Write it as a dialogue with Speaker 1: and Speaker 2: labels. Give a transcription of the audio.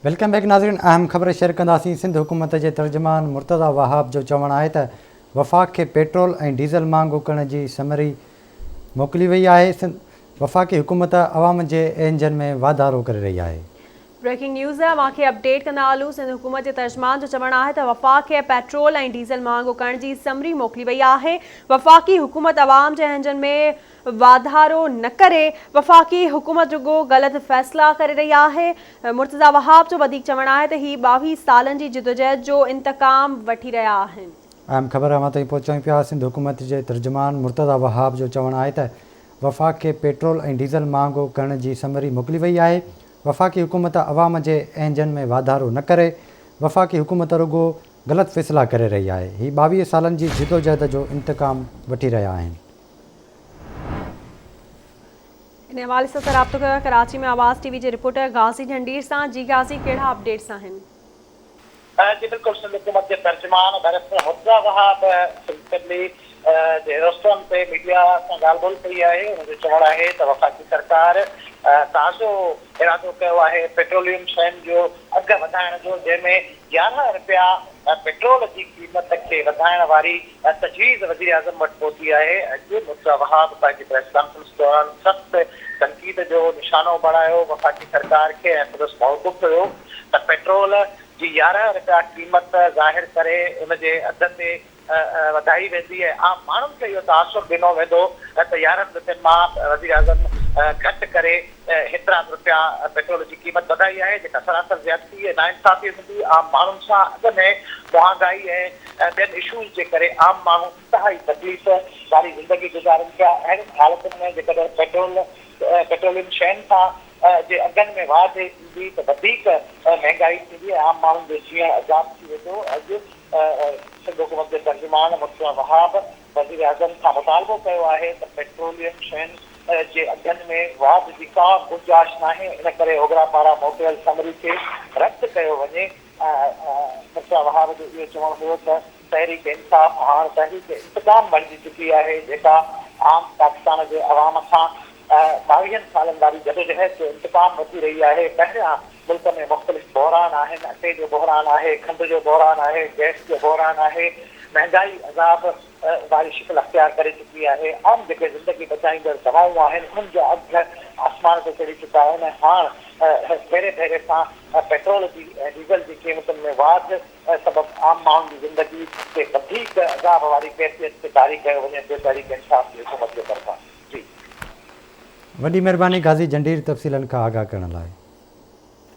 Speaker 1: Welcome back ناظرين اهم خبر شيئر ڪنداسين سنڌ حڪومت جي ترجمان مرتضيٰ وهاب جو چوڻ آهي ته وفاق کي پيٽرول ۽ ڊيزل مهانگو ڪرڻ جي سمري موڪلي وئي آهي سنڌ وفاقي حڪومت عوام جي اينجن ۾ واڌارو ڪري رهي آهي. بريڪنگ نيوز
Speaker 2: اوهان کي اپڊيٽ ڪندا هلون سنڌ حڪومت جي ترجمان جو چوڻ آهي ته وفاق کي پيٽرول ۽ ڊيزل مهانگو ڪرڻ جي سمري موڪلي وئي آهي وفاقي حڪومت عوام جي اينجن ۾ واڌارو نه ڪري وفاقي حڪومت رڳو غلط فيصلا ڪري رهي آهي، مرتضيٰ وهاب جو وڌيڪ چوڻ آهي ته هي ٻاويهه سالن جي جدوجهد جو انتقام وٺي رهيا آهن. اهم خبر اوهان
Speaker 1: تائين پهچائيون پيا، سنڌ حڪومت جي ترجمان مرتضيٰ وهاب جو چوڻ آهي ته وفاق کي پيٽرول ۽ ڊيزل مهانگو ڪرڻ جي سمري موڪلي وئي آهي، وفاقي حڪومت عوام جي اهنجن ۾ واڌارو نه ڪري وفاقي حڪومت رڳو غلط فيصلا ڪري رهي آهي، هي ٻاويهه سالن جي جدوجهد جو انتقام وٺي رهيا آهن.
Speaker 2: ان حوالي سان رابطو ڪيو آهي ڪراچي ۾ آواز ٽي وي جي رپورٽر غازي ڍنڍير سان جي غازي ڪهڙا اپڊيٽس آهن
Speaker 3: جي بلڪل سنڌ حڪومت جي ترجمان ڊائريڪٽر حفظه وهاب سنڌپبلڪ جي رستن تي ميڊيا سان ڳالهه ٻولهه ڪئي آهي ان جو چوڻ آهي ته وفاقي سرڪار تازو ارادو ڪيو آهي پيٽروليم شين جو اگهه وڌائڻ جو جنهن ۾ يارهن رپيا پيٽرول جي قيمت کي وڌائڻ واري اها تجويز وزيراعظم وٽ پهتي آهي. اڄ مرتضيٰ وهاب پنهنجي پريس ڪانفرنس دوران سخت تنقيد جو نشانو بڻايو، وفاقي سرڪار کي ۽ سندس موقف هيو ته پيٽرول جي يارهن رپيا قيمت ظاهر ڪري ان جي اڌ تي وڌائي ويندي ۽ عام ماڻهن کي اهو تاثر ڏنو ويندو ته يارهن رپين مان وزيراعظم گهٽ ڪري هيترا به رپيا پيٽرول جي قيمت وڌائي آهي جيڪا سراسر زيادتي ۽ ناانصافي هوندي عام ماڻهن سان اڳ ۾ مهانگائي ۽ ٻين اشوز جي ڪري عام ماڻهو انتهائي تڪليف واري زندگي گذارن ٿيا اهڙين حالتن ۾ جيڪڏهن پيٽرول پيٽروليم شين سان جي اگهن ۾ واڌ ايندي ته وڌيڪ مهنگائي ٿيندي ۽ عام ماڻهن جو جيئڻ عذاب ٿي ويندو اڄ سنڌ حڪومت جي ترجمان مرتضيٰ وهاب وزيراعظم کان مطالبو ڪيو آهي ته پيٽروليم شين جي اگهن ۾ واڌ جي ڪا گنجائش ناهي ان ڪري اوگرا پاران موڪليل سمري کي رد ڪيو وڃي مرزا وهاب جو اهو چوڻ هيو ته تحريڪ انصاف هاڻ تحريڪ انتقام بڻجي چڪي آهي جيڪا عام پاڪستان جي عوام کان ٻاويهن سالن واري جدوجهد جو انتقام وٺي رهي آهي پهريان ملڪ ۾ مختلف بحران آهن، اٽي جو بحران آهي، کنڊ جو بحران آهي، گئس جو بحران آهي، مهنگائي عذاب واري شڪل اختيار ڪري چڪي آهي، عام جيڪي زندگي بچائيندڙ دوائون آهن انهن جا اگهه آسمان تي چڙهي چڪا آهن ۽ هاڻ ڀيري ڀيري سان پيٽرول جي ۽ ڊيزل جي قيمتن ۾ واڌ سبب عام ماڻهن جي زندگي کي وڌيڪ عذاب واري ڪيفيت کي طاري ڪيو وڃي ٿو تحريڪ انصاف جي حڪومت جي طرفان
Speaker 1: جي وڏي مھرباني غازي جھنڊير تفصيلن کان آگاھ
Speaker 3: ڪرڻ
Speaker 1: لاء.